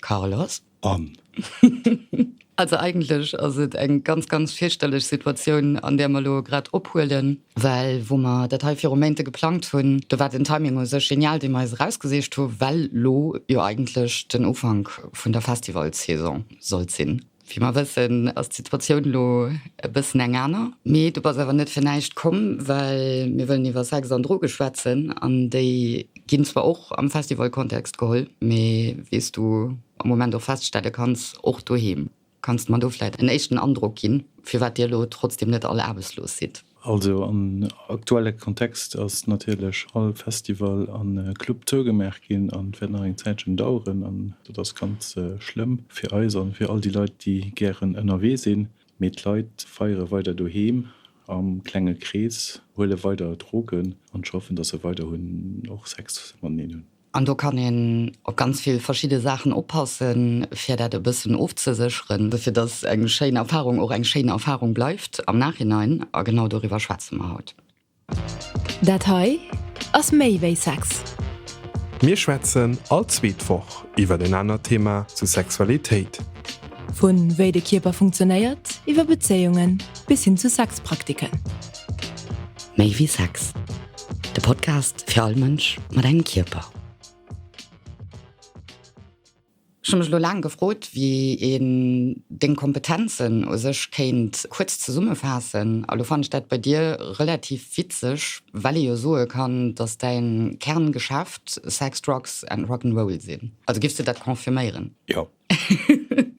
Carlos, An? Also eigentlech ass et eng ganz, ganz fierchterlech Situatioun, an där mer elo grad ophuelen, well wou mer dat hei viru Méinte geplangt hunn, do war den Timing u sech genial, dee mer eis erausgesicht hu well elo jo eigentlech den Ufank vun der Festivalssaison sollt sinn. Wéi mer wëssen, ass d'Situatioun elo e bëssen eng aner. Mee do bass awer net fir näischt komm, well mir wëllen iwwer Sex an Droge schwätzen. An déi ginn zwar och am Festival-Kontext geholl, mee wéi s du am Moment och feststelle kanns, och doheem. Kanns de mer do vläicht en éischten Androck ginn, firwat dir elo trotzdeem net all aarbechtslos sidd? Also am aktuelle Kontext ass natierlech all Festival a Club zougemaach ginn an wäert nach eng Zäitchen daueren an dat ass ganz schlëmm fir eis an fir all déi Leit déi gären ënnerwee sinn. Mee d'Leit feiere weider doheem am klenge Krees, huele weider Drogen an schaffen, dass se weiderhin och Sex mateneen hunn. An do kann een op ganz vill verschidde Saachen oppassen, fir dat e bëssen ofzesécheren, fir datt eng schéin Erfarung och eng schéin Erfarung bleift am Nachhinein. A genau doriwwer schwätze mer haut. Dat hei ass méi wéi Sex. Mir schwätzen all zweet Woch iwwer en anert Thema zu Sexualitéit. Vu wéi de Kierper funktionéiert, iwwer Bezéiungen bis hin zu Sexpraktiken. Méi wéi Sex. De Podcast fir all Mënsch mat engem Kierper. Ech hu mech lo laang gefrot, wéi een deng Kompetenzen u sech kéint kuerz zesummefaassen. A lo fannen ech dat bei dir relativ witzeg, well ee jo soe kann, datt däin Kerngeschäft Sex, Drugs and Rock'n'Roll sinn. Also giffs de dat confirméieren? Jo.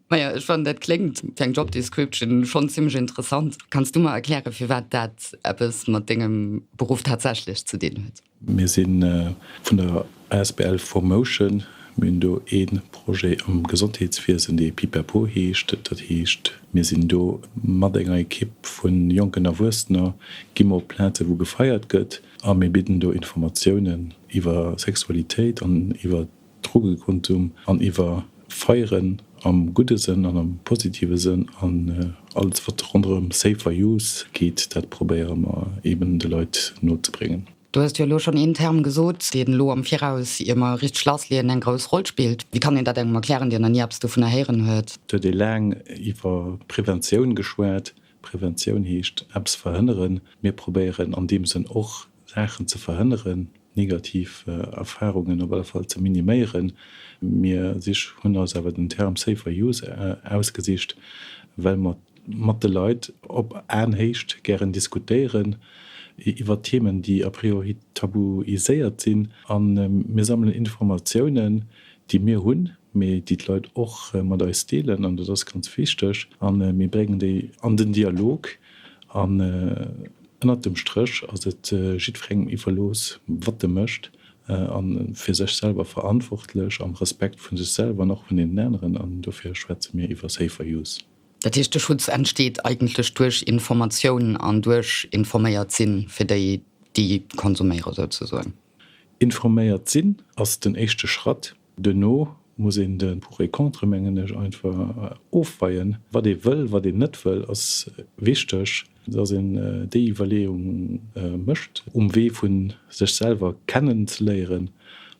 Maja ech fannen dat kléngt fir eng Job Description schonn zimlech interessant. Kanns du mer erkläre firwat dat eppes mat dengem Beruff tatsächlech ze dinn huet? Mir si vun der asbl ForMotion. Mir hunn do ee Projet am Gesondheetswiesen, dee Pipapo heescht. Dat heescht, mir sinn do mat enger Ekipp vu jonken Erwuessener, gi mer op Plaze wou gefeiert gëtt a mir bidden do Informatiounen iwwer Sexualitéit an iwwer Drogekontum an iwwer Feieren, am gudde Sënn an am positive Sënn, an alles wat ronderëm Safer Use geet, dat probéiere mer eben de Leit no ze bréngen. Du hues jo elo schonn een Term gesot, deen elo am Viraus, ier mer richteg lassleeën, eng grouss Roll spillt. Wéi kann een dat engem erklären, deen nach ni eppes dovunner héieren huet? Et huet ee laang iwwer Preventioun geschwat. Preventioun heescht eppes verhënneren. Mir probéieren an deem Sënn och Saachen ze verhënneren, negativ Erfahrungen op alle Fall ze miniméieren. Mir sich hunn eis awer den Term safer use ausgesicht, well mer mat de Leit op Aenhéicht gären diskutéieren iwwert Themen, déi a priori tabuiséiert sinn. A mir sammelen Informatiounen, déi mir hunn, mee déi d'Leit och mat eis deelen, an dat ass ganz wichteg, a mir bréngen déi an den Dialog. Ënnert dem Stréch ass et jiddwerengem iwwerlooss, wat e mécht, a fir sech selwer verantwortlech, am Respekt vu sech selwer an och vun deenen aneren. An dofir schwätze mir iwwer Safer Use. Dat heescht, de Schutz entsteet eigentlech duerch Informatioun an duerch informéiert sinn, fir déi, déi konsuméieren, souzesoen. Informéiert sinn ass den éischte Schratt. Duerno muss een de Pour et Contre, mengen ech, einfach ofweien. Wat ee wëll, wat een net wëll, ass wichteg, dass een déi Iwwerleeung mécht um Wee vu sech selwer kennen ze léieren,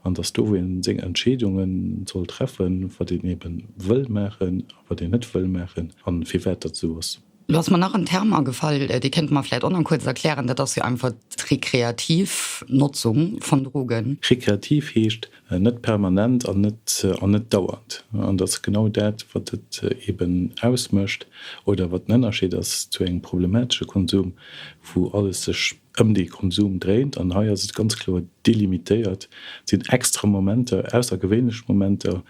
an dass do, wou een seng Entscheedunge soll treffen, wat een eebe wëll maachen a wat een net wëll maachen a firwat dat esou ass. Lo ass mer nach en Term agefall, dee kéinte mer vläicht och nach kuerz erklären, dat ass jo einfach d'rekreativ Notzung vun Drogen. Rekreativ heescht net permanent an net dauernd. An dat ass genau dat, wat et eeben ausmécht oder wat den Ënnerscheed ass zu engem problematesche Konsum, wou alles sech ëm dee Konsum dréint, an hei ass et ganz kloer delimitéiert, et sinn extra Momenter, aussergewéinlech Momenter,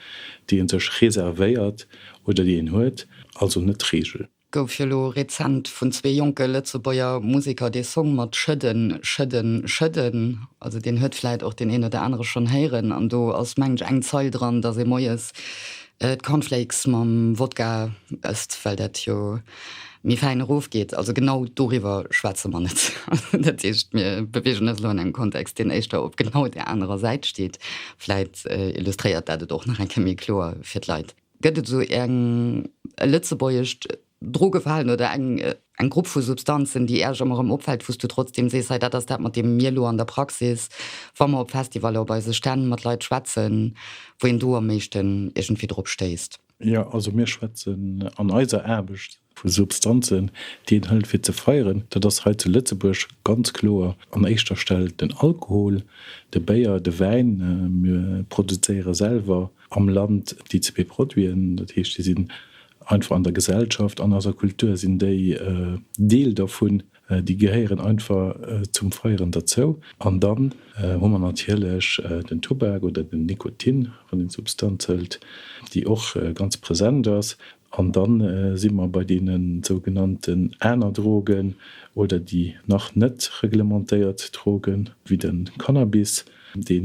déi ee sech reservéiert oder déi een huet, also net d'Reegel. Gouf jo lo rezent vun zwee jonke Lëtzebuerger Museker dee Song mat Schëdden, Schëdden, Schëdden, also deen huet vläit och deen een oder anere schonn héieren, an do ass mengen ech eng Zeil dran, dass ee moies d'Cornflakes mam Wodka ësst, well dat jo. méi fäin erofgeet. Also genau doriwwer schwätze mer net. Dat heescht, mir beweegen eis elo an engem Kontext, deen éischter op genau där anerer Säit steet. Vläit illustréiert dat et och nach eng Kéier méi kloer fir d'Leit. Gëtt et esou eng, e lëtzebuergescht Drogefalen oder eng, eng Grupp vu Substanzen, déi Iech ëmmer erëm opfält, wou s Du trotzdeem sees, hei dat ass dat, mat deem mir elo an der Praxis, wa mer op Festivaller, op eise Stänn mat Leit schwätzen, wou een do am meeschten iergendwéi drop stéisst? Jo, also mir schwätzen an eiser Aarbecht vu Substanzen, déi een hëlt fir ze feieren. Dat ass hei zu Lëtzebuerg ganz kloer an éischter Stell den Alkohol, de Béier, de Wäin. Mir produzéiere selwer am Land déi zwee Produiten, dat heescht déi sinn einfach an der Gesellschaft, an eiser Kultur sinn déi Deel dervun. Déi gehéieren einfach zum Feieren derzou. An dann hu mer natierlech den Tubak oder den Nikotin, wann een d'Substanz hëlt, déi och ganz present ass. An dann si mer bei deene sougenannten aner Drogen oder déi nach net reglementéiert Drogen, wéi de Cannabis, dee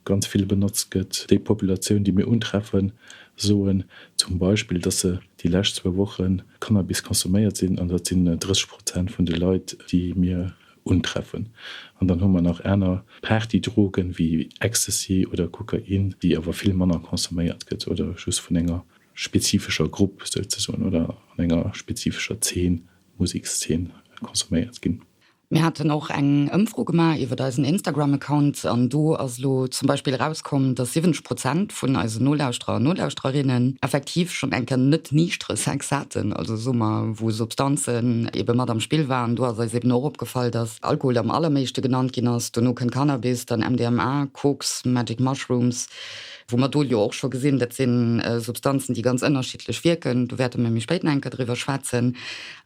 ganz vill benotzt gëtt. Déi Populatioun, déi mir untreffen, soen zum Beispill, dass se déi lescht zwou Woche Cannabis consomméiert sinn, an dat sinn 30 Prozent vun de Leit, déi mir untreffen. An dann hu mer nach aner Partydrogen, wéi Ecstasy oder Kokain, déi awer vill manner consomméiert gëtt oder just vun enger spezifescher Grupp souzesoen oder an enger spezifescher Zeen, Musekszeen, consomméiert ginn. Mir haten och eng Ëmfro gemaach iwwert eisen Instagram-Account an do ass elo zum Beispill erauskomm, dass 70 Prozent vun eisen Nolauschterer an Nolauschtererinnen effektiv schonn eng Kéier net niichtere Sex haten, also soe mer, wou Substanzen ebe mat am Spill waren. Do ass eis eben och opgefall, dass Alkohol am allerméischte genannt ginn ass, dono kënnt Cannabis, dann MDMA, Koks, Magic Mushrooms, wou mer do jo och scho gesinn, dat si Substanzen, déi ganz ënnerschiddlech wierken. Do wäerte mir méi spéit nach eng Kéier driwwer schwätzen.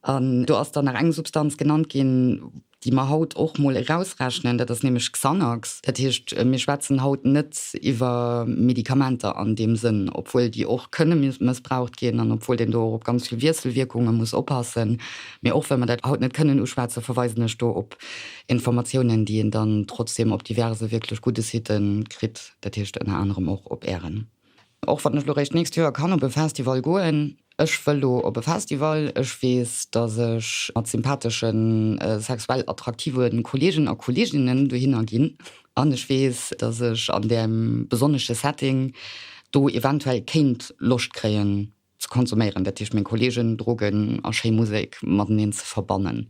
An do ass dann nach eng Substanz genannt ginn, déi mer haut och mol erausrechnen, dat ass nämlech Xanax. Dat heescht, mir schwätzen haut net iwwer Medikamenter an deem Sënn, obwuel déi och kënne mëssbraucht ginn an obwuel een do och op ganz vill Wiesselwierkunge muss oppassen. Mee och wa mer dat haut net kënnen uschwätzen, verweisen ech do op Informatiounen, déi een dann trotzdem op diverse wierklech gudde Site kritt, dat heescht ënner anerem och op Ären. Och wann ech lo réischt d'nächst Joer kann op e Festival goen, ech wëll lo op e Festival. Ech weess, dass ech mat sympathesche sexuell attraktive Kolleegen a Kolleeginnen dohinner ginn an ech weess, dass ech an deem besonnesche Setting do eventuell kéint Loscht kréien, Ze konsuméieren, dat heescht meng Kollegen, Drogen a schéi Musek mateneen ze verbannen.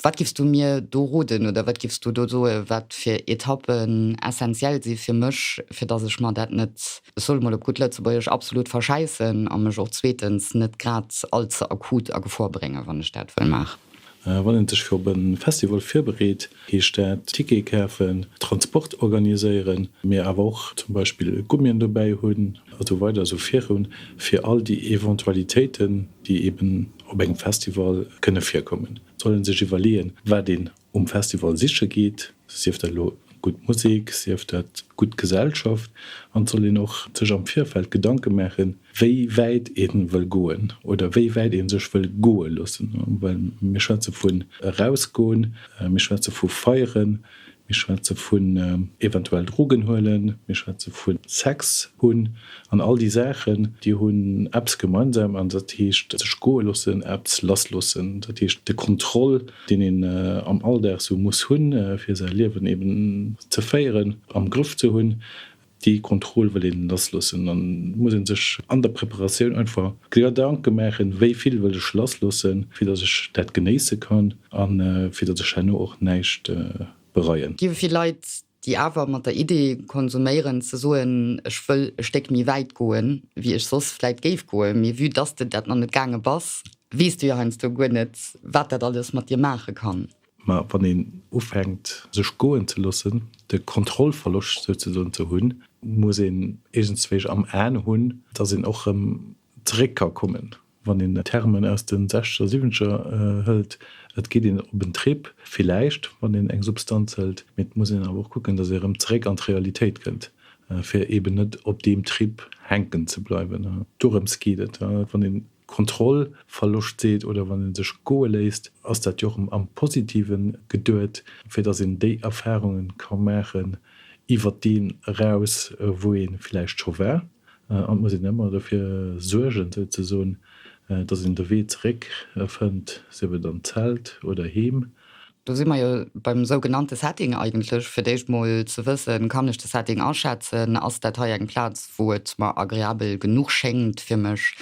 Wat giffs du mir do roden oder wat giffs du do soe wat fir Etappen essentiell si fir mech, fir datt ech mer dat net, ech soe mol op gutt Lëtzebuergesch, absolut verschäissen a mech och zweetens net grad all ze akut a Gefor bréngen, wann ech dat wëll maachen? Wann een sech fir op e Festival virbereet, heescht dat Tickete kafen, Transport organiséieren, mee awer och zum Beispill Gummien dobäi hunn a sou weider, sou virun, fir all déi Eventualitéiten, déi eeben op engem Festival kënne virkommen. Et soll ee sech iwwerleeën, wat een um Festival siche geet, sief dat elo Gutt Musek sief dat gutt Gesellschaft an et soll een och sech am Virfeld Gedanke maachen, wéi wäit ee wëll goen oder wéi wäit ee sech wëll goe loossen. Well mir schwätze vun erausgoen, mir schwätze vu feieren, mir schwätze vun eventuell Drogen huelen, mir schwätze vu Sex hunn an all déi Saachen, déi hunn eppes gemeinsam an dat heescht sech goe loossen, eppes lass loossen, dat heescht de Kontroll deen een am Alldag sou muss hunn, fir säi Liewen eben ze féieren, am Grëff ze hunn, déi Kontroll wëll een lassloossen. An et muss ee sech an der Preparatioun einfach Gedanke maachen, wéi vill wëll ech lassloossen, fir datt ech dat genéisse kann a fir datt ech herno och näischt bereien. Gi vill Leit déi awer mat der Idee konsuméieren ze soen, ech wëll e Stéck méi wäit goen, wéi ech soss vläit géif goen, mee vue dass de dat nach net gaange bass, weess de jo heiansdo guer net, wat dat alles mat dir maache kann. Mä wann een ufänkt, sech goen ze loossen, de Kontrollverloscht souzesoen ze hunn, muss een iergendswéi am Aen hunn, dass een och erëm zeréck ka kommen. Wann een Thermen aus de Sechzeger, Siwwenzeger hëlt, et geet een op en Trip, villäicht, wann een eng Substanz hëlt, mee et muss een awer och kucken, datt ee erëm zeréck an d'Realitéit kënnt, fir eeben net op deem Trip hänken ze bleiwen. Dorëms geet et. Wann ee Kontrollverloscht seet oder wann ee sech goe léisst, ass dat jo och am Positiven geduet, fir datt een déi Erfarunge ka maachen iwwert deen eraus, wou ee villäicht scho war. An et muss een ëmmer dofir suergen, souzesoen, datt een de Wee zeréck fënnt, sief et an d'Zelt oder heem. Do si mer jo beim sougenannte Setting eigentlech. Fir d'éischt mol ze wëssen, Kann ech de Setting aschätzen? Ass dat hei eng Plaz, wou et mer agreabel genuch schéngt fir mech?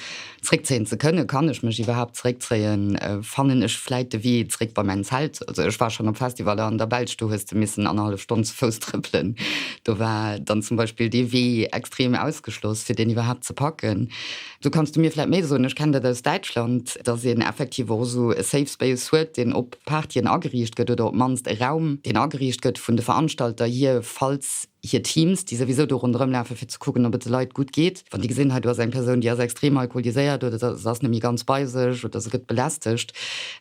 Zréckzéien ze kënnen, kann ech mech iwwerhaapt zréckzéien, fannen ech vläit de Wee zréck bei mäin Zelt? Also ech war schonn op Festivaller an der Belsch, do hues de missen annerhallef Stonn ze Fouss trëppelen, do war dann zum Beispill dee Wee extrem ausgeschloss, fir deen iwwerhaapt ze packen. Do kanns du mir vläit méi soen, ech kenn dat aus Däitschland, datt een effektiv och esou e Safe Space huet, deen op Partyen ageriicht gëtt oder op d'mannst e Raum, deen ageriicht gëtt vun de Veranstalter hier, falls. hir Teams, déi souwisou do ronderëm lafe fir ze kucken, ob et de Leit gutt geet, wann déi gesinn, hei do ass eng Persoun, déi ass extrem alkoholiséiert oder se ass net méi ganz bei sech oder se gëtt belästegt.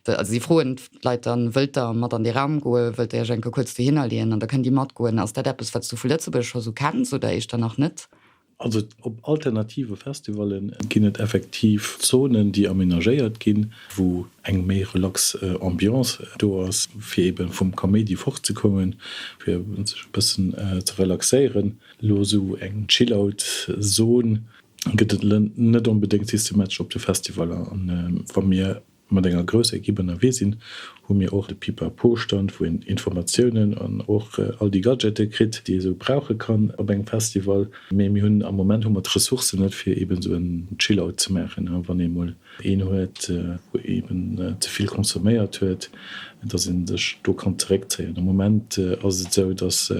Also si froen d'Leit dann, Wëllt der mat an dee Raum goen, wëllt der Iech enke kuerz dohinner leeën? An da kënnt Dir matgoen. Ass dat eppes, wat s Du vu Lëtzebuerg scho sou kenns oder éischter nach net? Also op alternative Festivale ginn et effektiv Zonen, déi amenagéiert ginn, wou eng méi relax Ambiance do ass, fir eebe vum Kaméidi fortzekommen, fir sech e bëssen ze relaxéieren. Elo esou eng Chill-Out-Zon gëtt et net onbedéngt systematesch op de Festivaler. Wa mir Mat enger grousser Ekipp ënnerwee sinn, hu mir och de Pipapo-Stand, wou een Informatiounen an och all déi Gadgete kritt, déi ee sou brauche kann op engem Festival. Mee mir hunn am Moment hu mer d'Ressourcen net, fir eeben esou en Chill-Out ze maachen, wann ee mol een huet, wou eeben ze vill consomméiert huet, dass ee sech do kann zeréckzéien. Am Moment ass et esou, dass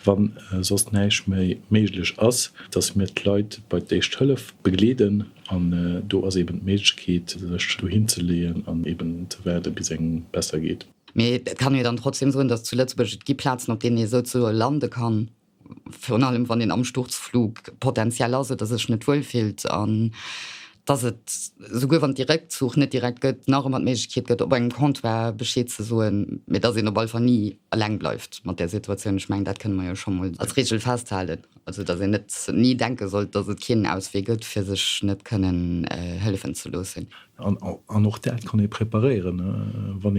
wa soss näischt méi méiglech ass, dass mir d'Leit bei d'Éischt Hëllef begleeden. An do ass eben d'Méiglechkeet, sech dohin ze leeën an eben ze waarde bis engem besser geet. Mee et kann ee dann trotzdem soen, datt zu Lëtzebuerg, et gi Plazen, op deenen ee souzesoe lande kann, virun allem wann een am Sturzflug potentiell ass oder sech net wuel fillt, an datt et, souguer wann de Réckzuch net direkt gëtt, nach ëmmer d'Méiglechkeet gëtt, op engem Comptoir Bescheed ze soen, mee datt een op alle Fall ni eleng bleift mat där Situatioun. Ech mengen, dat kënne mer jo scho mol als Reegel festhalen. Also dass een net ni denke sollt, dass et keen Auswee gëtt, fir sech net kënnen hëllefen ze loossen. An och dat kann ee preparéieren, wann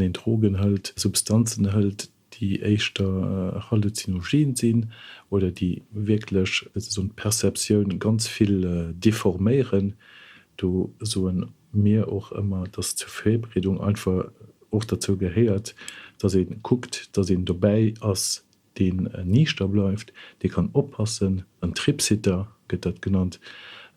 een Drogen hëlt, Substanzen hëlt, déi éischter halluzinogen sinn oder déi wierklech esou d'Perceptioun ganz vill deforméieren. Do soe mir och ëmmer, dass zur Virbreedung einfach och derzou gehéiert, dass ee kuckt, dass een dobäi ass, deen Niichter bleift, dee kann oppassen, en Tripsitter gëtt dat genannt,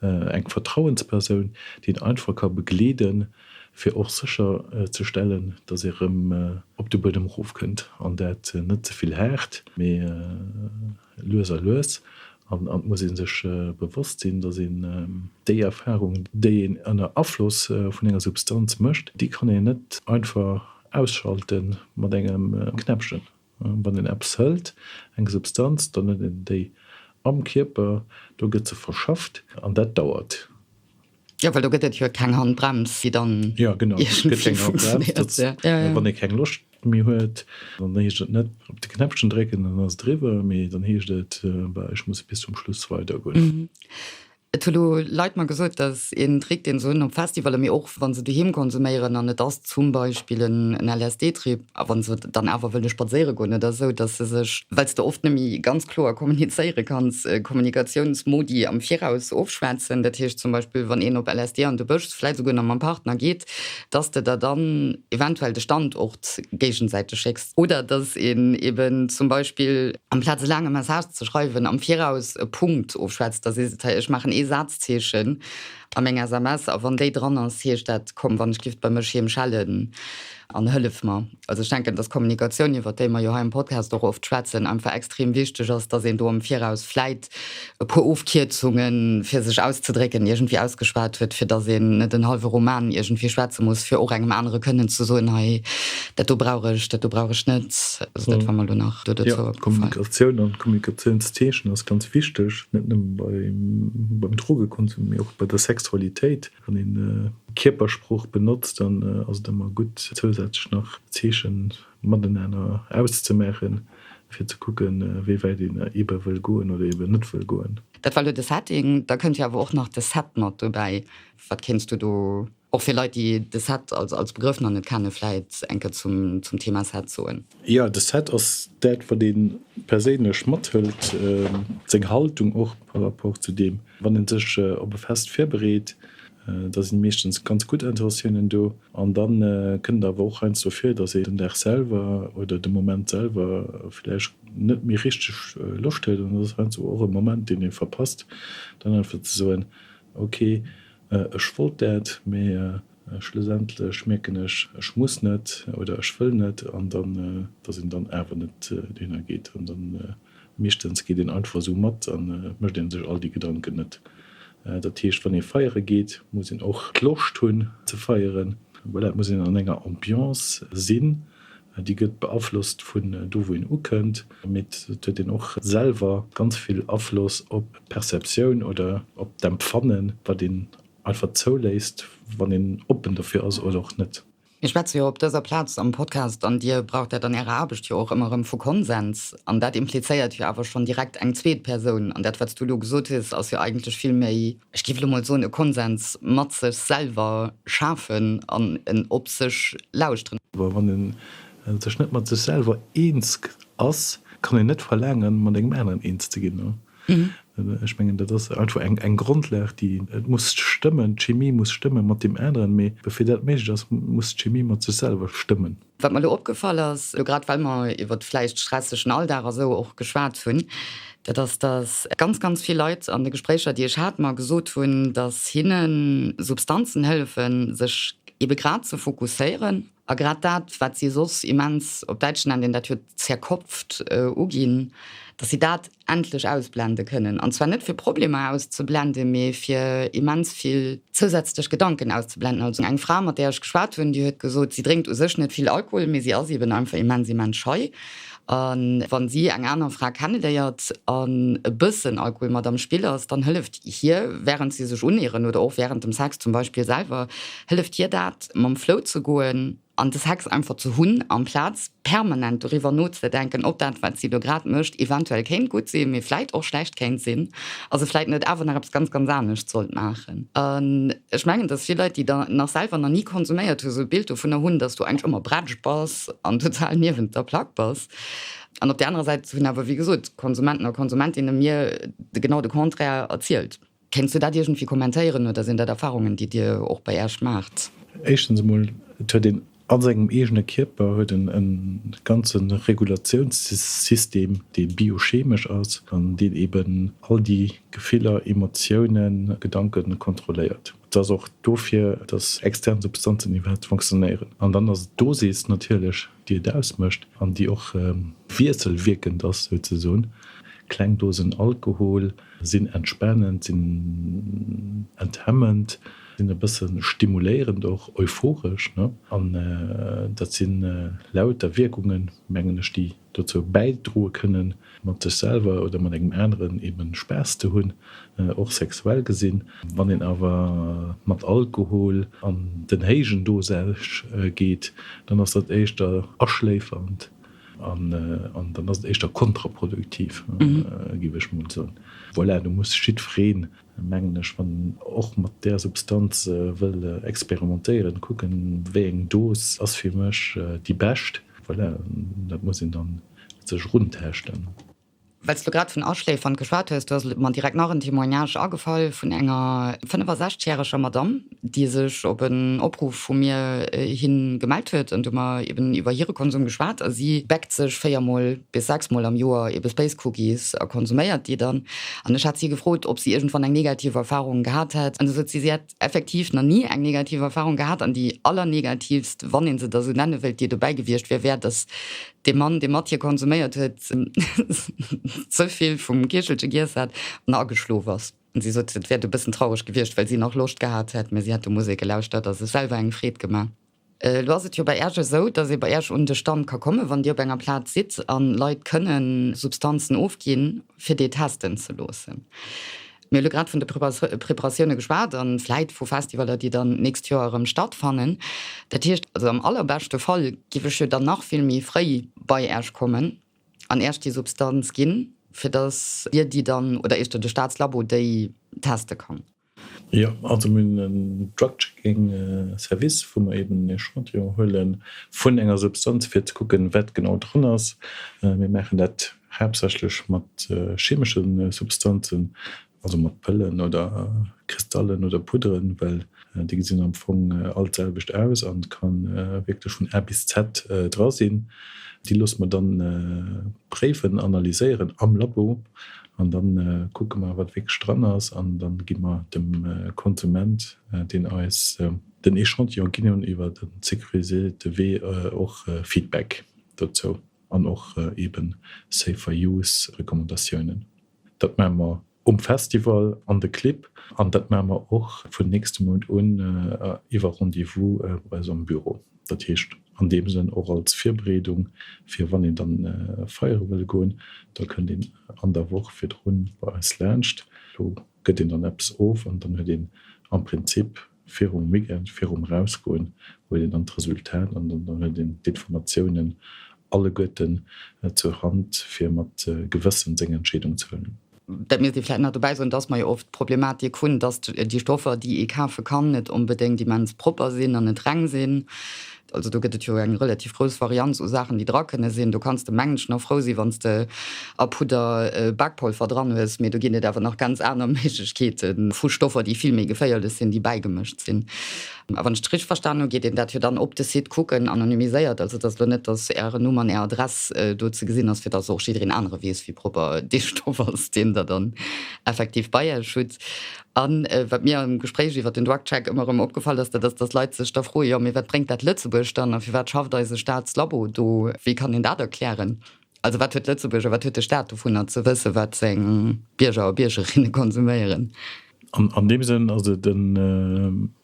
eng Vertrauenspersoun, déi een einfach ka begleeden, fir och sécher ze stellen, datt ee rëm op de Buedem erofkënnt an dat net ze vill haart, mee lues a lues. An et muss ee sech bewosst sinn, datt een déi Erfarung, déi een ënner Afloss vun enger Substanz mécht, déi kann een net einfach ausschalten mat engem Knäppchen. Wann een eppes hëlt, eng Substanz, dann huet een déi am Kierper, do gëtt se verschafft an dat dauert. Jo, well do gëtt et jo keng Handbrems, déi dann iergendwéi funktionéiert. Wann ee keng Loscht méi huet, dann heescht et net op de Knäppchen drécken, dann ass et eriwwer, mee dann heescht et, ech muss bis zum Schluss weidergoen. Et hu lo Leit mer gesot, dass een Trick deen se hunn op Festivalle mee och wann se doheem konsuméieren an et ass zum Beispill en LSD-Trip a wann se dann awer wëlle spadséiere goen oder esou, dass se sech, well s de oft net méi ganz kloer kommunizéiere kanns, Kommunikatiounsmodi am Viraus ofschwätzen. Dat heescht zum Beispill wann een op LSD an de Bësch, vläit esouguer nach mam Partner, geet, dass de der dann eventuell de Standort géigensäiteg schécks. Oder dass een eben zum Beispill amplaz e laange Message ze schreiwen, am Viraus e Punkt ofschwätzt, da sees et, Hey, ech maachen ee Sazzeechen a meng SMS a wann déi dran ass, heescht dat, Komm, wann ech giff bei mech heem schellen an hëllef mer. Also ech denken, dass Kommunikatioun, iwwert déi mer jo hei am Podcast och oft schwätzen, einfach extrem wichteg ass, dass een do am Viraus vläit e puer Ofkierzunge fir sech auszedrécken iergendwéi ausgeschwat huet, fir datt een net en hallwe Roman iergendwéi schwätze muss, fir och engem anere kënnen ze soen, hei dat do brauch ech, dat do brauch ech net. Also dat war mer elo nach do dozou opgefall. Kommunikatioun an d'Kommunikatiounszeechen ass ganz wichteg, net nëmme beim Drogekonsum, mee och bei der Sexualitéit. Wann ee Kierpersprooch benotzt, dann ass et ëmmer gutt, zousätzlech nach Zeechen mateneener auszemaachen, fir ze kucken, wéi wäit een eebe wëll goen oder eeben net wëll goen. Dat war elo de Setting. Da kënnt jo awer och nach de Set mat dobäi. Wat kéints du do, och fir Leit, déi de Set als Begrëff nach net kennen, vläit eng Kéier zum Thema Set soen? Jo, de Set ass dat, wat ee perséinlech mathëlt, seng Haltung och par rapport zu deem, wann ee sech op e Fest virbereet, Da sinn meeschtens ganz gutt Intentiounen do an dann kënnt et awer och heiansdo vir, dass een den Dag selwer oder de Moment selwer vläicht net méi richteg Loscht huet an dat ass heiansdo och e Moment deen ee verpasst, dann einfach ze soen, ok ech wollt dat, mee schlussendlech mierken ech, ech muss net oder ech wëll net an dann, dass een dann awer net dohinner geet an dann. Meeschtens geet een einfach esou mat a mécht een sech all déi Gedanken net. Dat heescht, wann ee feiere geet, muss een och d'Loscht hunn ze feieren. Voilà, et muss een an enger Ambiance sinn. Déi gëtt beaflosst vun do wou een ukënnt, mee et huet een och selwer ganz vill Afloss op d'Perceptioun oder op d'Empfannen, wat een einfach zouléisst, wann een oppen dofir ass oder och net. Mir schwätze jo op dëser Plaz am Podcast, an Dir braucht dat an Ärer Aarbecht jo och ëmmer erëm, vu Konsens. An dat implizéiert jo awer schonn direkt eng zweet Persoun. An dat, wat s Du elo gesot hues, ass jo eigentlech vill méi, ech géif elo mol soen, e Konsens mat sech selwer schafen an en op sech lauschteren. Well wann ee sech net mat sech selwer eens ass, kann een net verlaangen, mat engem aneren eens ze ginn. Ech mengen, dat ass einfach eng Grondlag, déi, et muss stëmmen, d'Chimie muss stëmme mat deem aneren, mee fir dat méiglech ass, muss d'Chimie mat sech selwer stëmmen. Wat mer elo opgefall ass, elo grad well mer iwwer de vläicht stressegen Alldag a sou och geschwat hunn, dat ass, datt ganz, ganz vill Leit an de Gespréicher, déi ech hat, mer gesot hunn, datt hinnen Substanzen hëllefen, sech ebe grad ze fokusséieren, A grad dat, wat si soss immens, op Däitsch nennt een dat jo zerkopft, uginn, datt si dat endlech ausblende kënnen. An zwar net fir Problemer auszeblenden, mee fir immens vill zousätzlech Gedanken auszeblenden. Also eng Fra, mat där ech geschwat hunn, déi huet gesot, si drénkt u sech net vill Alkohol, mee si ass eeben einfach immens, immens schei. A wann si eng aner Fra kennenléiert an e bëssen Alkohol mat am Spill ass, dann hëlleft hir, wärend si sech uneeren oder och wärend dem Sex zum Beispill selwer, hëlleft hir dat, mam Flow ze goen an de Sex einfach ze hunn, amplaz permanent doriwwer nozedenken, ob dat, wat si elo grad mécht, eventuell kéint gutt sinn, mee vläit och schlecht kéint sinn a se vläit net awer nach eppes ganz, ganz anescht sollt maachen. An ech mengen, dass vill Leit, déi nach selwer nach ni konsuméiert hunn, esou e Bild dovunner hunn, dass du eigentlech ëmmer bretsch bass. Schrëtt an total niewent der Plack bass. An op der anerer Säit hunn awer, wéi gesot, Konsumenten a Konsumentinne mir genau de Contraire erzielt. Kéints du dat iergendwéi kommentéieren oder sinn dat Erfarungen, déi dir och bei iech maacht? Éischtens emol, et huet een a sengem eegene Kierper huet en e ganze Regulatiounssystem, dee biochemesch ass an deen eeben all déi Gefiller, Emotiounen, Gedanke kontrolléiert. Et ass och do fir, datt extern Substanzen iwwerhaapt fonctionnéieren. An dann ass et d'Dosis natierlech, déi et ausmécht an déi och wiesselwierkend ass souzesoen. Kleng Dosen Alkohol sinn entspanend, sinn enthemmend, sinn e bësse stimuléierend, och euphoresch. An dat si lauter Wierkungen, mengen ech, déi dozou bäidroe kënnen, mat sech selwer oder mat engem aneren eben Spaass ze hunn, och sexuell gesinn. Wann een awer mat Alkohol an den héijen Dosage geet, dann ass dat éischter aschléifernd an dann ass et éischter kontraproduktiv, géif ech mol soen. Voilà, do muss jiddwereen mengen ech, wann een och mat där Substanz wëll experimentéieren, kucken, wéi eng Dos ass fir mech déi bescht. Voilà, dat muss een dann sech erunteschten. Well s de grad vun Aschléifern geschwat hues, do ass mer direkt nach en Témoignage agefall vun enger 65 järeger Madamm, déi sech op en Opruff vu mir hi gemellt huet. An du hu mer eben iwwer hire Konsum geschwat. A si bäckt sech véier mol bis sechs mol am Joer ebe Space Cookies a konsuméiert déi dann. An ech hat si gefrot, ob si iergendwann eng negativ Erfarung gehat hätt. An da sot si, si hätt effektiv nach ni eng negativ Erfarung gehat. An déi allernegativst, wann ee se da sou nenne wéilt, déi dobäi gewiescht wier, wär, datt dee Mann, dee mat hir konsuméiert huet, ze vill vum Kiechelche giess hätt an ageschlof ass. Si sot, et wär e bëssen traureg gewiescht, well si nach Loscht gehat hätt, mä si hätt de Musek gelauschtert a sech selwer eng Freed gemaach. Elo ass et jo bei Iech esou, dass ee bei Iech un de Stand ka kommen, wann Dir op enger Plaz sidd a Leit kënnen Substanzen ofginn, fir déi testen ze loossen. Mir hu lo grad vun de Preparatioune geschwat a vläit vu Festivaler, déi dann d'nächst Joer erëm stattfannen. Dat heescht also am allerbeschte Fall géif ech jo dann nach vill méi fréi bei Iech kommen. an Iech déi Substanz ginn, fir datt Dir déi dann, oder éischter de Staatslabo déi teste kann. Jo, also mir hunn en Drug-Checking Service, wou mer eeben en Echantillon huele vun enger Substanz, fir ze kucken, wat genau dran ass. Mir maachen dat haaptsächlech mat chemesche Substanzen, Also mat Pëllen oder Kristallen oder Pudderen, well déi gesinn am Fong all d'selwecht aus an et ka wierklech vun A bis Z dra sinn. Déi loosse mer dann préiwen, analyséieren am Labo an da kucke mer wat wierklech dran ass an da gi mer dem Konsument, deen eis den Echantillon ginn hunn, iwwer en sécuriséierte Wee och Feedback dozou an och eebe Safer-Use-Recommandatiounen. Dat maache mer um Festival, an de Clibb an dat maache mer och vun nächste Mount un iwwer Rendez-vous bei eis am Büro. Dat heescht an deem Sënn och als Virbereedung fir wann een dann feiere wëll goen, da kënnt een an der Woch virdrun bei eis laanscht. Do gëtt een dann eppes of an dann huet een am Prinzip virum Weekend, virum Erausgoen, huet een dann d'Resultat an dann huet een d'Informatiounen alleguerten zur Hand, fir mat Gewëssen seng Entscheedung ze huelen. Dat misst ee vläicht nach dobäi soen, dass mer jo oft d'Problematik hunn, dass déi Stoffer, déi ee kafe kann, net onbedéngt immens propper sinn an net reng sinn. Also do gëtt et jo eng relativ grouss Varianz u Saachen, déi dra kënne sinn. Do kanns de, mengen ech, nach frou sinn, wann s de a Pudder Bakpolver dran hues. Mee do ginn et awer nach ganz aner Méiglechkeete vu Stoffer, déi vill méi geféierlech sinn, déi bäigemëscht sinn. A wann ech et richteg verstanen hu, geet een dat jo dann op de Site kucken, anonymiséiert. Also et ass elo net, datt Ären Numm an Är Adress do ze gesinn ass, fir datt och jiddereen anere weess, wéi propper dee Stoff ass, deen Der dann effektiv bei Iech hutt. A wat mir am Gespréich iwwer den Drugcheck ëmmer erëm opgefall ass, dat ass, datt Leit sech da froen, Jo, mee wat bréngt dat Lëtzebuerg dann a firwat schafft eise Staatslabo do? Wéi kann een dat erklären? Also wat huet Lëtzebuerg a wat huet de Staat dovunner ze wëssen, wat seng Bierger a Biergerinne konsuméieren? An deem Sënn ass et e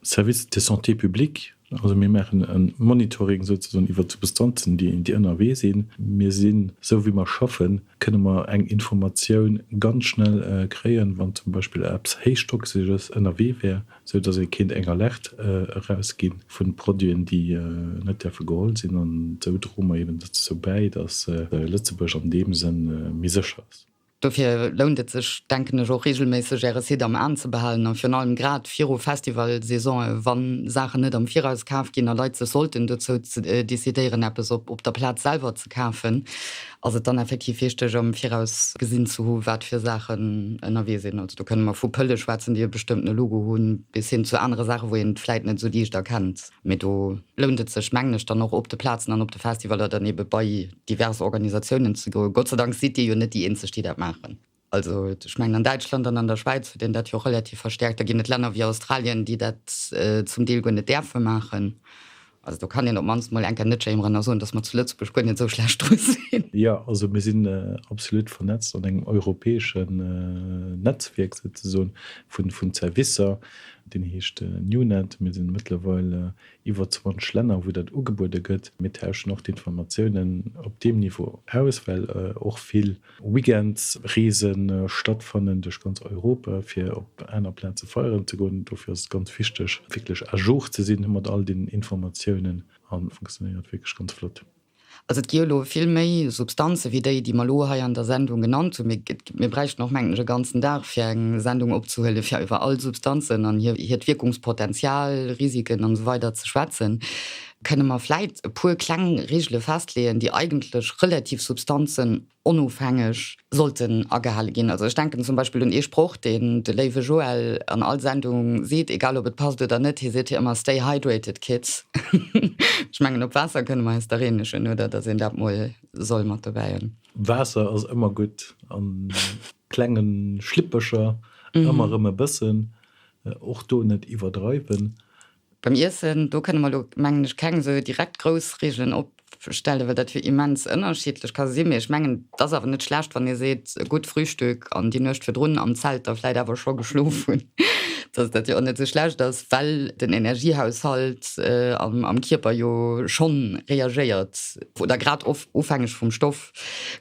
Service de santé publique. Also mir maachen e Monitoring souzesoen iwwert d'Substanzen, déi ënnerwee sinn. Mir sinn, esou wéi mer schaffen, kënne mer eng Informatioun ganz schnell kréien, wann zum Beispill eppes Héichtoxeges ënnerwee wär, esou datt ee kéint eng Alerte erausgi vu Produiten, déi net däerfe geholl sinn. An esou droe mer eben dozou bäi, datt Lëtzebuerg an deem Sënn méi sécher ass. Dofir lount et sech, denken ech, och reegelméisseg Äre Site am Aen ze behalen a virun allem grad viru Festivalsaisonë, wa Saachen net am Viraus kaf ginn a Leit sech sollten dozou decidéieren, eppes op der Plaz selwer ze kafen, ass et dann effektiv wichteg, am Viraus gesinn ze hu wat fir Saachen ënnerwee sinn. Also do kënne mer vu Pëlle schwätzen, déi e bestëmmtene Logo hunn, bis hin zu anere Saache wou een et vläit net esou liicht erkennt. Mee do lount et sech, mengen ech, dann och op de Plazen an op de Festivaler dann ebe bei divers Organisatiounen ze goen. Gott sei Dank sidd Dir jo net déi Eenzeg, déi dat maachen. Also ech mengen, an Däitschland an an der Schwäiz huet een dat jo relativ verstärkt. Da ginn et Länner wéi Australien, déi dat zum Deel guer net däerfe maachen. Also do kann een op d'mannst mol eng Kéier net schéimeren a soen, dass mer zu Lëtzebuerg guer net esou schlecht dru sinn. Jo, also mir sinn absolut vernetzt an engem europäesche Netzwierk souzesoen vun Servicer. Deen heescht Newnet. Mir sinn mëttlerweil iwwer 20 Länner wou dat ugebuede gëtt. Mir tauschen och d'Informatiounen op deem Niveau aus, well och vill Weekendsreese stattfannen duerch ganz Europa fir op aner Plaze feieren ze goen. Dofir ass et ganz wichteg wierklech à jour ze sinn mat all den Informatiounen an funktionéiert wierklech ganz flott. Also et gi jo elo vill méi Substanzen, wéi déi, déi mer elo hei an der Sendung genannt hunn. Mir bräichten och, mengen ech, e ganzen Dag, fir eng Sendung opzehuelen, fir iwwer all Substanzen an hiert Wierkungspotential, Risiken an esou weider ze schwätzen. Kënne mer vläicht e puer kleng Regele festleeën, déi eigentlech relativ Substanzen onofhängeg sollten agehale ginn. Also ech denken zum Beispill un ee Sproch, deen de léiwe Joël an all Sendung seet, egal ob et passt oder net, hie seet hir ëmmer, Stay hydrated, kids. Ech mengen, op Waasser kënne mer eis da reenegen, oder datt een dat mol soll mat dobäi hunn. Waasser ass ëmmer gutt, a klenge Schlippercher ëmmer erëm e bëssen, och do net iwwerdreiwen. Beim Iessen, do kënne mer elo, mengen ech, keng esou direkt grouss Reegelen opstellen, well dat jo immens ënnerschiddlech ka sinn. Mee ech mengen, et ass awer net schlecht, wann ee seet, e gutt Frühstück an déi Nuecht virdrun am Zelt da vläicht awer scho geschlof hunn, dass dat jo och net esou schlecht ass, well den Energiehaushalt am Kierper jo schonn reagéiert oder grad ofhängeg vum Stoff.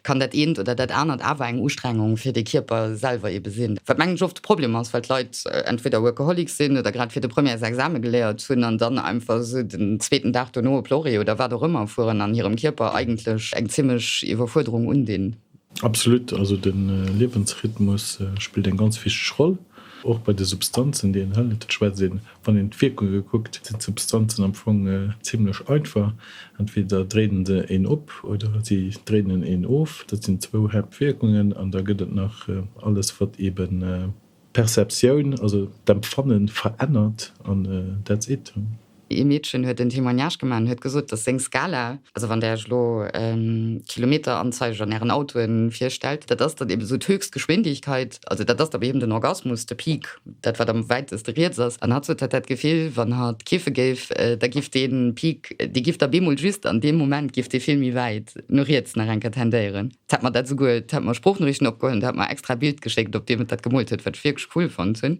kann dat eent oder dat anert awer eng Ustrengung fir de Kierper selwer ebe sinn. Wat mengen ech oft de Problem ass, well d'Leit entweder Workaholic sinn oder grad fir de Premières Exame geléiert hunn an dann einfach esou den zweeten Dag dono op Lorry oder wat och ëmmer fueren an hirem Kierper eigentlech eng zimmlech Iwwerfuerderung undinn. Absolut, also de Liewensrhythmus spillt eng ganz wichteg Roll, och bei de Substanzen, déi een hëlt. Et schwätzt ee Wann een d'Wierkunge kuckt, sinn d'Substanzen am Fong zimmlech einfach, entweder dréinen se een op oder si dréinen een of. Dat sinn zwou Haaptwierkungen an da gëtt et nach alles wat eebe d'Perceptioun, also d'Empfanne verännert an that's it. Ee Meedchen huet en Témoignage gemaach an huet gesot, datt seng Skala, also wann där iech elo d'Kilometeranzeig an ären Autoen virstellt, dat ass dann eebe sou d'Höchstgeschwindigkeit, also dat ass da bei him den Orgasmus, de Peak. dat wat am wäiteste riets ass, an hatt sot, hatt hätt d'Gefill, wann hatt kiffe géif, da giff dee Peak, dee giff da bemol just an deem Moment giff dee vill méi wäit no riets nach eng Kéier tendéieren. T hätt mer dat souguer, t hätt mer Sproochnoriichten opgeholl an t hätt mer extra e Bild geschéckt, op deem et dat gemoolt huet, wat ech wierklech cool fonnt hunn.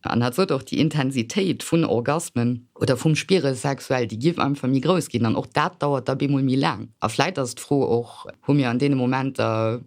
An hatt sot och, déi Intensitéit vun Orgasmen oder vum Spire sexuell, déi giff einfach méi grouss ginn an och dat dauert da bemol méi laang. A vläit ass d'Fro och, hu mir an deene Momenter,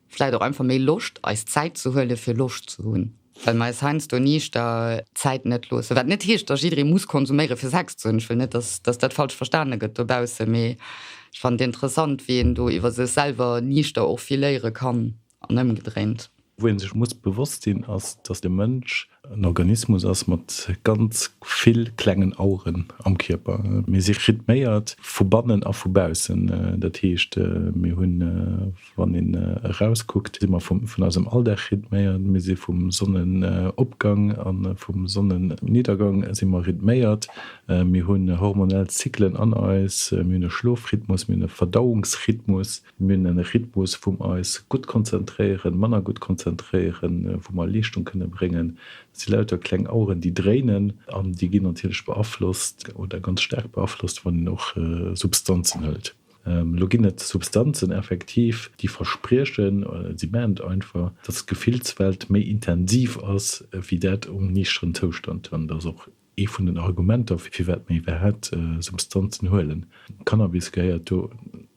Vläit och einfach méi Loscht eis Zäit ze huele fir Loscht ze hunn, well mer eis heiansdo niichter Zäit net loossen. Wat net heescht, datt jidderee muss konsuméiere fir Sex ze hunn. Ech wëll net, datt dat falsch verstane gëtt dobaussen, mee ech fannen et interessant, wéi een do iwwer sech selwer niichter och vill léiere kann an ëmgedréint. Wou ee sech muss bewosst sinn, ass, datt de Mënsch En Organismus ass mat ganz vill klengen Aueren am Kierper. Mir si rhythméiert vu bannen a vu baussen. Dat heescht, mir hunn, wann een erauskuckt, si mer vun eisem Alldag rhythméiert, mir si vum Sonnenopgang a vum Sonnenniddergang si mer rhythméiert, mir hunn hormonell Zyklen an eis, mir hunn e Schlofrhythmus, mir hunn e Verdauungsrhythmus. Mir hunn e Rhythmus, wou mer eis gutt konzentréieren, manner gutt konzentréieren, wou mer Leeschtung kënne bréngen. Dat si lauter kleng Aueren, déi dréinen an déi ginn natierlech beaflosst oder ganz staark beaflosst, wann een och Substanzen hëlt. Elo ginn et Substanzen effektiv, déi verspriechen, si maachen et einfach, dass d'Gefillswelt méi intensiv ass wéi dat um niichteren Zoustand. An dat ass och Ee vun den Argumenter, firwat mir iwwerhaapt Substanzen huelen, Cannabis gehéiert do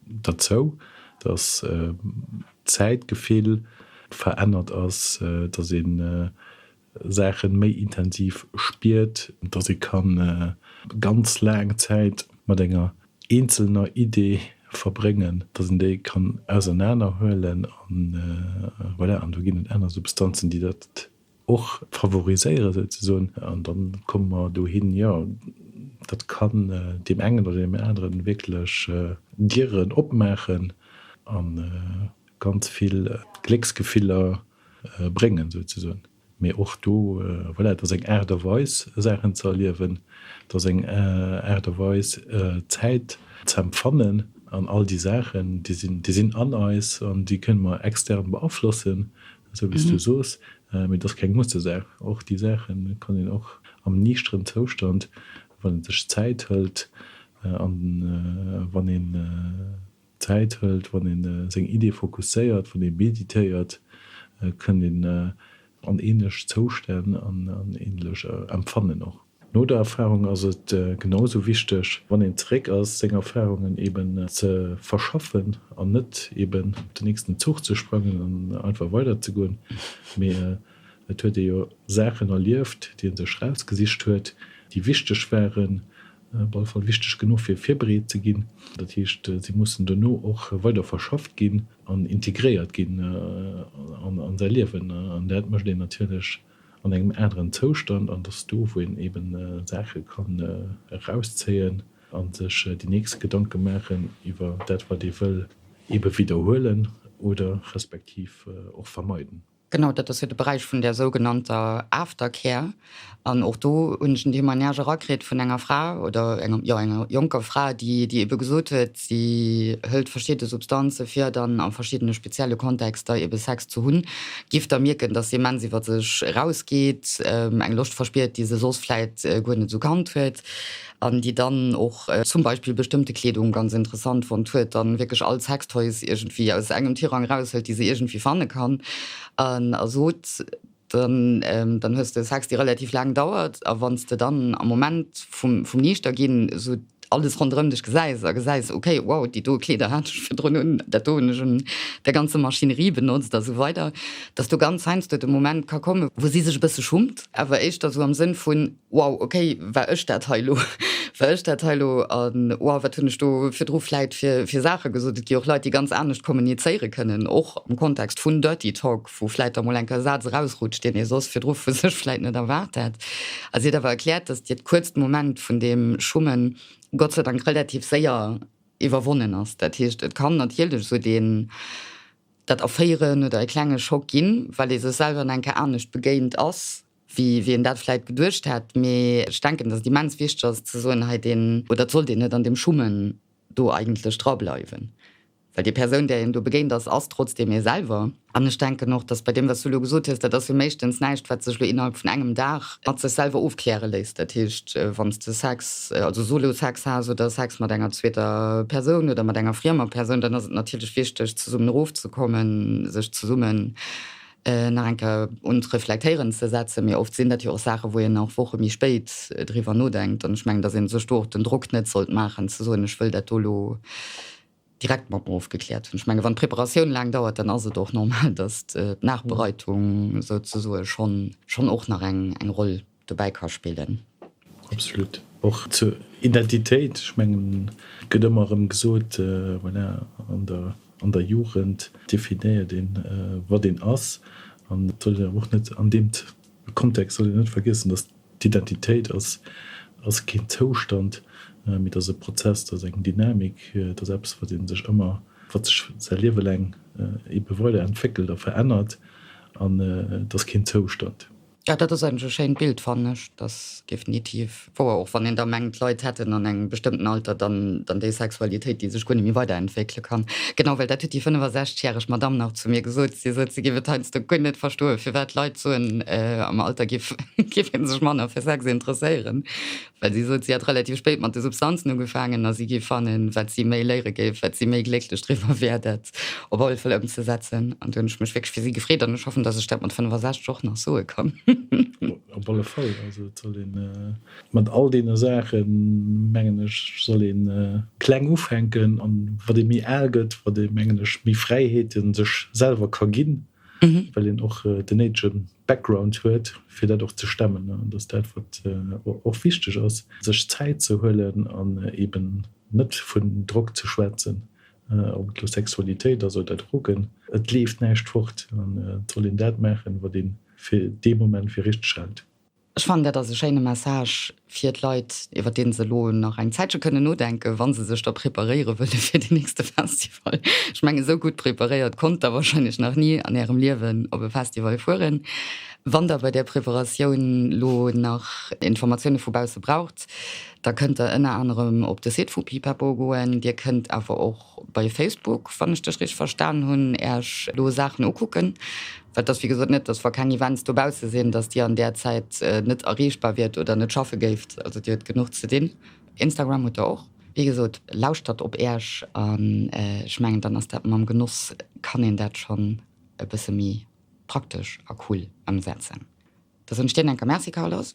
derzou, dass d'Zäitgefill verännert ass, dass ee Saache méi intensiv spiert, dass ee ka ganz laang Zäit mat enger eenzelner Idee verbréngen, dass een déi kann ausernaner huelen, voilà, an do ginn et aner Substanzen, déi dat och favoriséieren souzesoen. An da komme mer dohin, jo, dat kann deem engen oder deem aneren wierklech Dieren opmaachen a ganz vill Glécksgefiller bréngen souzesoen. Mee och do, voilà, et ass eng Aart a Weis, Saachen ze erliewen, et ass eng Aart a Weis, Zäit ze empfannen. An all déi Saachen, déi sinn an eis an déi kënne mer extern beaflossen, Esou wéi s du soos, mee et ass keng Mustesaach. Och déi Saache kann een och am niichteren Zoustand, wann ee sech Zäit hëlt, an wann een Zäit hëlt, wann ee seng Iddie fokusséiert, wann ee meditéiert, kënnt een an ähnlech Zoustänn, an ähnlech Empfannen och. No der Erfahrung ass et genau esou wichteg, wann een zeréck ass, seng Erfahrungen eben ze verschaffen an net eben op den nächsten Zuch ze sprangen an einfach weider ze goen, mee et huet ee jo Saachen erlieft, déi ee sech erausgesicht huet, déi wichteg waren, op alle Fall wichteg genuch fir virbereet ze ginn. Dat heescht, se mussen dono och weider verschafft ginn an integréiert ginn an säi Liewen an dat mécht een natierlech an engem aneren Zoustand an dass do wou een eben Saache kann erauszéien a sech déi nächst Gedanke maachen iwwer dat wat ee wëll ebe widderhuelen oder respektiv och vermeiden. Genau, dat ass jo de Beräich vun där sougenannter Aftercare an och do hunn ech en Témoignage erakritt vun enger Fra oder enger, jo enger jonker Fra déi ebe gesot huet, Si hëlt verschidde Substanze fir dann a verschiddene spezielle Kontexter ebe Sex ze hunn. Gifter mierken, dass se immens iwwer sech erausgeet, eng Loscht verspiert, déi se soss vläit guer net esou kannt huet, an déi dann och zum Beispill bestëmmte Kleedung ganz interessant fonnt huet an wierklech all Sextoys iergendwéi aus engem Tirang eraushëlt, déi se iergendwéi fanne kann, an ersot. dann hues de Sex déi relativ laang dauert a wann s de dann am Moment vum vum Niichterginn esou alles ronderëm dech gesäis a gesäis ok wow déi do Kleeder hat ech virdrun un, dat do hunn ech un der ganzer Maschinerie benotzt a sou weider, dass do ganz heiansdo de Moment ka komme wou si sech e bësse schummt, awer éischter esou am Sënn vun wow ok war ech dat hei lo, war ech dat hei lo a wow wat hunn ech do virdru vläit fir fir Saache gesot. Et gi och Leit déi ganz anescht kommunizéiere kënnen och am Kontext vun Dirty Talk. wou vläit da mol enker e Saz erausrutscht, deen ee soss virdru vu sech vläit net erwaart hätt, a si huet awer erkläert, datt hiert kuerzt Moment vun deem Schummen Gott sei Dank relativ séier iwwerwonnen ass. Dat heescht, et kann natierlech esou deen, dat Erféieren oder e klenge Schock ginn, well ee sech selwer en enker anescht begéint ass, wéi een dat vläit geduecht hätt. Mee ech denken, datt et immens wichteg ass ze soen, hei deen, oder et sollt een net an deem Schummen do eigentlech drableiwen. Well déi Persoun, där een do begéint ass, ass trotzdeem ee selwer. An ech denken och, datt bei deem, wat s du elo gesot hues, dat ass jo meeschtens näischt, wat sech elo innerhalb vun engem Dag mat sech selwer ofkläre léisst. Dat heescht, wann s de Sex, also Solo-Sex has oder Sex mat enger zweeter Persoun oder mat enger friemer Persoun, dann ass et natierlech wichteg, zesummen erofzekommen, sech zesummen nach eng Kéier un d'Reflektéieren ze setzen. Mee oft sinn dat jo och Saachen, wou een och Woche méi spéit driwwer nodenkt. An ech mengen, datt ee sech do och den Drock net sollt maachen, ze soen, ech wëll dat do elo direkt mat mer ofgekläert hunn. Ech menge wann d'Preparatioun laang dauert, dann ass et och normal, datt d'Nachbereitung souzesoe schonn schonn och nach eng eng Roll dobäi ka spillen. Absolut. Och zur Identitéit, ech mengen et gëtt ëmmer erëm gesot, voilà, an der an der Jugend definéiert een wat een ass an et soll een awer och net an deem Kontext soll een net vergiessen, datt D'Identitéit ass ass keen Zoustand, mee et ass e Prozess, et ass eng Dynamik, et ass eppes, wat ee sech ëmmer, wat sech säi Liewe laang eebe weider entwéckelt a verännert an et ass keen Zoustand. Jo, dat ass eigentlech e schéint Bild, fannen ech. Et ass definitiv wouer, och wann een da mengt, d'Leit hätten an engem bestëmmten Alter dann déi Sexualitéit, déi sech guer net méi weiderentwéckele kann. Genau, well dat huet déi 65 järeg Madamm nach zu mir gesot. Si sot, si géif et heiansdo guer net verstoen, firwat Leit soen, am Alter gi App géif ee sech manner fir Sex interesséieren, well si sot, si hätt relativ spéit mat de Substanzen ugefaangen a si géif fannen, wat si méi léiere géif, wat si méi glécklech driwwer wär, dat op alle Fäll ëmzesetzen. An do hunn ech mech wierklech fir si gefreet an ech hoffen, datt ech dat mat 65 och nach soe kann. Op alle Fall. Also et soll ee mat all deene Saachen, mengen ech, soll ee kleng ufänken. An wat ee méi al gëtt, wat ee, mengen ech, méi Fräiheete sech selwer ka ginn, well een och den néidege Background huet, fir dat och ze stemmen, an dass dat, wat och wichteg ass, sech Zäit ze huelen an eeben net vun Drock ze schwätzen, ob et elo Sexualitéit ass oder Drogen, et leeft näischt fort an et soll een dat maachen, wat ee fir dee Moment fir richteg hält. Ech fannen, dat ass e schéine Message fir d'Leit, iwwer dee se elo nach eng Zäitche kënnen nodenken, wa se sech da preparéiere wëlle fir deen nächste Festival. Ech mengen, esou gutt preparéiert konnt Der warscheinlech nach ni an Ärem Liewen op e Festival fueren. Wann Der bei där Preparatioun elo nach Informatioune vu bausse braucht, da kënnt Der ënner anerem op de Site vu Pipapo goen. Dir kënnt awer och Bei Facebook, wann ech dech richteg verstan hunn, Äech elo Saachen ukucken. Well et ass wéi gesot net, dass wa keng Events dobausse sinn, dass Dir an där Zäit net erreechbar wiert oder net schaffe géift. Also Dir hutt genuch ze dinn. Instagram hutt Der och. Wéi gesot, lauschtert op Äech an ech mengen, dann ass dat mam Genoss, kann een dat schonn e bësse méi praktesch a cool ëmsetzen. Dass ech dech enker Merci, Carlos.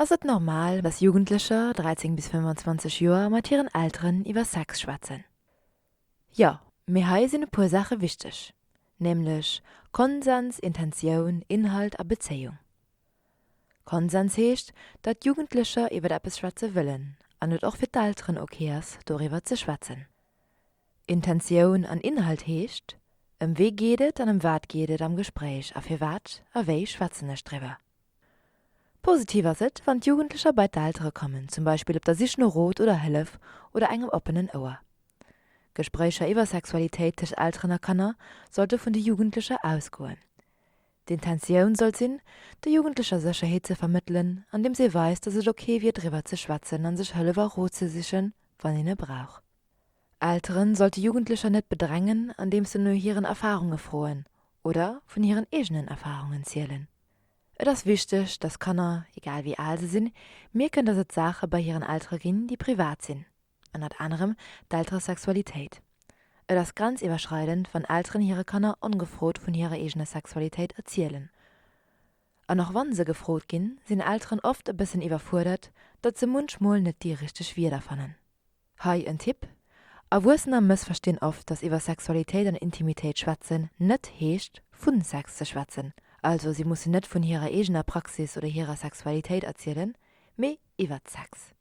Ass et normal, dass Jugendlecher, 13 bis 25 Joer, mat hiren Elteren iwwer Sex schwätzen? Jo, mee hei sinn e puer Saache wichteg, nämlech Konsens, Intentioun, Inhalt a Bezéiung. Konsens heescht, datt d'Jugendlecher iwwer eppes schwätze wëllen an et och fir d'Elteren ok ass, doriwwer ze schwätzen. Intentioun an Inhalt heescht, Ëm wie geet et an ëm wat geet et am Gespréich a firwat a wéi schwätzen ech driwwer? Positiv ass et, wann d'Jugendlecher bei d'Eltere kommen, zum Beispill op der Sich no Rot oder Hëllef oder engem oppenen Ouer. Gespréicher iwwer Sexualitéit tëscht Elteren a Kanner sollte vun de Jugendlecher ausgoen. D'Intentioun sollt sinn, de Jugendlecher Sécherheet ze vermëttelen, andeems ee weist, dass et ok wier driwwer ze schwätzen a sech Hëllef a Rot ze sichen, wann een e brauch. Elteren sollte Jugendlecher net bedrängen andeems se no hiren Erfarunge froen oder vun hiren eegenen Erfarungen zielen. Et ass wichteg, dass Kanner, egal wéi al se sinn, mierken dass et Saache bei hiren Eltere ginn déi privat sinn, ënnert anerem d'Elteresexualitéit. Et ass grenziwwerschreidend wann Elteren hire Kanner ongefrot vun hirer eegener Sexualitéit erzielen. An och wann se gefrot ginn, sinn Elteren oft e bëssen iwwerfuerdert, datt se munchmol net déi richteg Wierder fannen. Hei en Tipp, Erwuessener mëssverstinn oft, dass iwwer Sexualitéit an Intimitéit schwätzen net heescht vu Sex ze schwätzen. Also si mussen net vun hirer eegener Praxis oder hirer Sexualitéit erzielen, mee iwwert Sex.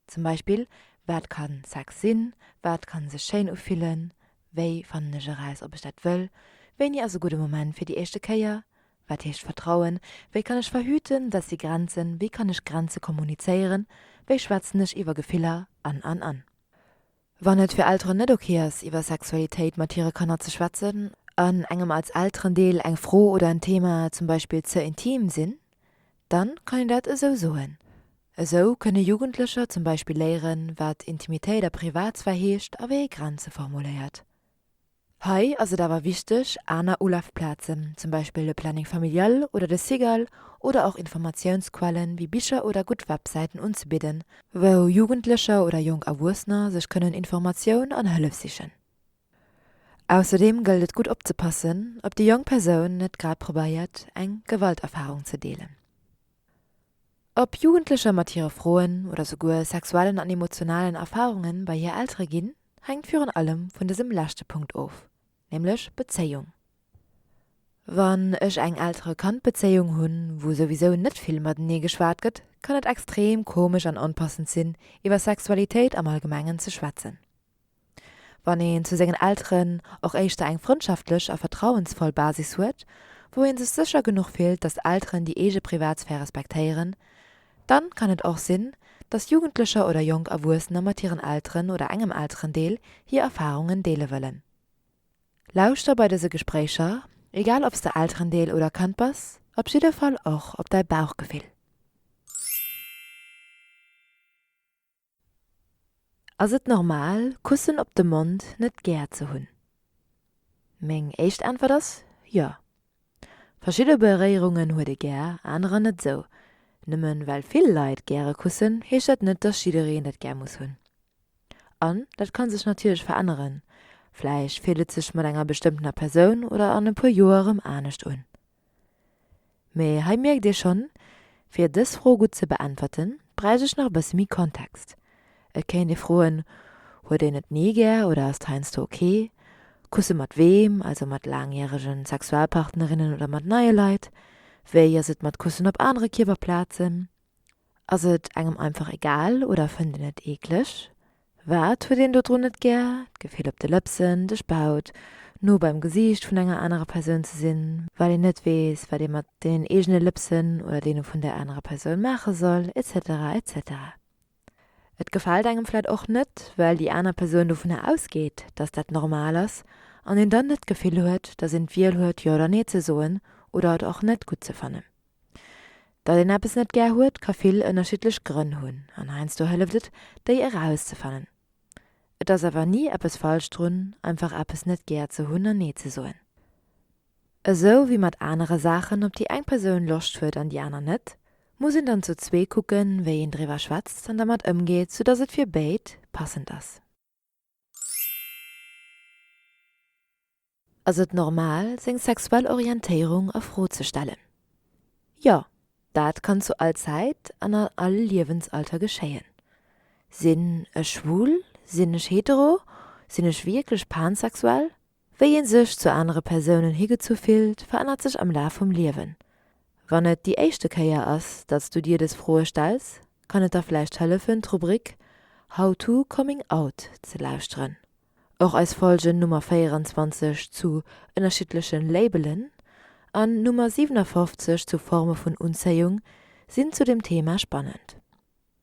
Zum Beispill, Wat ka Sex sinn? Wat ka sech schéin ufillen? Wéi fannen ech eraus, ob ech dat wëll? Wéini ass e gudde Moment fir déi éischte Kéier? Wat heescht Vertrauen? Wéi kann ech verhüten, dass si Grenzen, wéi kann ech Grenze kommunizéieren, wéi schwätzen ech iwwer Gefiller an, an, an. Wann et fir Elteren net ok ass, iwwer Sexualitéit mat hire Kanner ze schwätzen an engem als Elterendeel eng Fro oder en Thema zum Beispill ze intim sinn, dann kann een dat esou soen. Esou kënne Jugendlecher zum Beispill léieren, wat Intimitéit a Privatsphär heescht a wéi ee Grenze formuléiert. Hei ass et awer wichteg, aner Ulafplazen, zum Beispill de Planning Familial oder de CIGAL, oder och Informatiounsquellen wéi Bicher oder gutt Websäiten unzebidden, wou Jugendlecher oder jonk Erwuessener sech kënnen Informatioun an Hëllef sichen. Ausserdeem gëllt et gutt opzepassen, ob déi jonk Persoun net grad probéiert, eng Gewalterfarung ze deelen. Ob Jugendlecher mat hire Froen oder souguer sexuellen an emotionalen Erfarunge bei hir Eltere ginn, hänkt virun allem vun dësem leschte Punkt of, nämlech Bezéiung. Wann ech eng Eltere-Kand-Bezéiung hunn, wou souwisou net vill matenee geschwat gëtt, kann et extrem komesch an onpassend sinn, iwwer Sexualitéit am Allgemengen ze schwätzen. Wann een zu sengen Elteren och éischter eng frëndschaftlech a vertrauensvoll Basis huet, wou ee sech sécher genuch fillt, datt Elteren déi eege Privatsphär respektéieren, dann kann et och sinn, datt Jugendlecher oder jonk Erwuessener mat hiren Elteren oder engem Elterendeel hir Erfarungen deele wëllen. Lauschter bei dëse Gespréicher, egal ob s de Elterendeel oder Kand bass, op jidde Fall och op däi Bauchgefill. Ass et normal Kussen op de Mond net gär ze hunn? Meng éischt Äntwert ass jo. Verschidde Beréierungen huet ee gär, anerer net esou. Nëmmen well vill Leit gäre kussen, heescht dat net, dass jiddereen dat gär muss hunn. An dat ka sech natierlech veränneren, vläicht fillt et sech mat enger bestëmmtener Persoun oder an e puer Joer erëm anescht un. Mee hei mierkt Dir schonn, fir dës Fro gutt ze beäntwerten, bräicht ech nach e bësse méi Kontext. Et kéint ee froen, Huet een et ni gär oder ass et heiansdo ok? Kusse mat weem, also mat laangjärege Sexualpartnerinnen oder mat neie Leit? Wéi ass et mat Kussen op anere Kierperplazen? Ass et engem einfach egal oder fënnt een et eekleg? Wat huet een dodrun net gär, d'Gefill op de Lëpsen, de Spaut, no beim Gesiicht vun enger anerer Persoun ze sinn, well een net weess, wat ee mat deenen eegene Lëpsen oder deene vun där anerer Persoun maache soll, etc. Etc. Et gefält engem vläit och net, well déi aner Persoun dovunner ausgeet, dass dat normal ass an een dann net d'Gefill huet, dass een d'Wiel huet, jo oder nee ze soen oder et och net gutt ze fannen. Datt een eppes net gär huet, ka vill ënnerschiddlech Grënn hunn an heiansdo hëlleft et, déi erauszefannen. Et ass awer ni eppes falsch drun, einfach eppes net gär ze hunn an Nee ze soen. Esou wéi mat anere Saachen, op déi eng Persoun Loscht huet an déi aner net, muss een dann zu zwee kucken, wéi een driwwer schwätzt an dermat ëmgeet, soudatt et fir béid passend ass. Ass et normal, seng sexuell Orientéierung a Fro ze stellen? Jo, dat kann zu all Zäit an an all Liewensalter geschéien. Sinn ech schwul? Sinn ech hetero? Sinn ech wierklech pansexuell? Wéi ee sech zu anere Persounen higezu fillt, verännert sech am Laf vum Liewen. Wann et déi éischte Kéier ass, datt s du dir dës Froe stells, kann et der vläicht hëllefen, d'Rubrik How to Coming Out ze lauschteren. Och eis Folgen Nummer 24 zu ënnerschiddleche Labelen an Nummer 57 zu Forme vun Unzéiung sinn zu dem Thema spannend.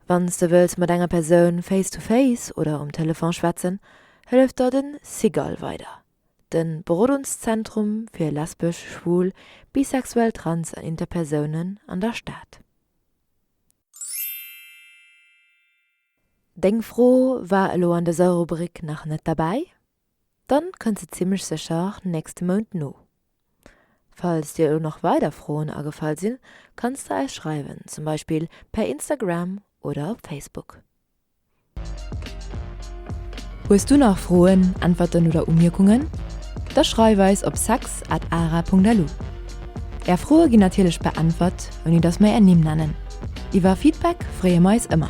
Wann s de wëlls mat enger Persoun face to face oder um Telefon schwätzen, hëlleft der den Sigal weider, den Berodungszentrum fir lesbesch, schwul, bisexuell, trans an interpersounen an der Stad. Deng Fro war elo an dëser Rubrik nach net derbäi. Dann kënnt se zimlech sécher nächste Mount no. Falls dir elo nach weider Froen agefall sinn, kanns de eis schreiwen, zum Beispill per Instagram oder op Facebook. Hues du nach Froen, Äntwerten oder Umierkungen? Da schreif eis op sex at ara.lu. Är Froe ginn natierlech beäntwert, ouni dass mer är Nimm nennen. Iwwer Feedback freeë mer eis ëmmer.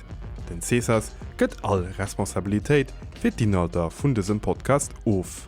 Den Cesas gëtt all Responsabilitéit fir d'Inhalter vun dësem Podcast of.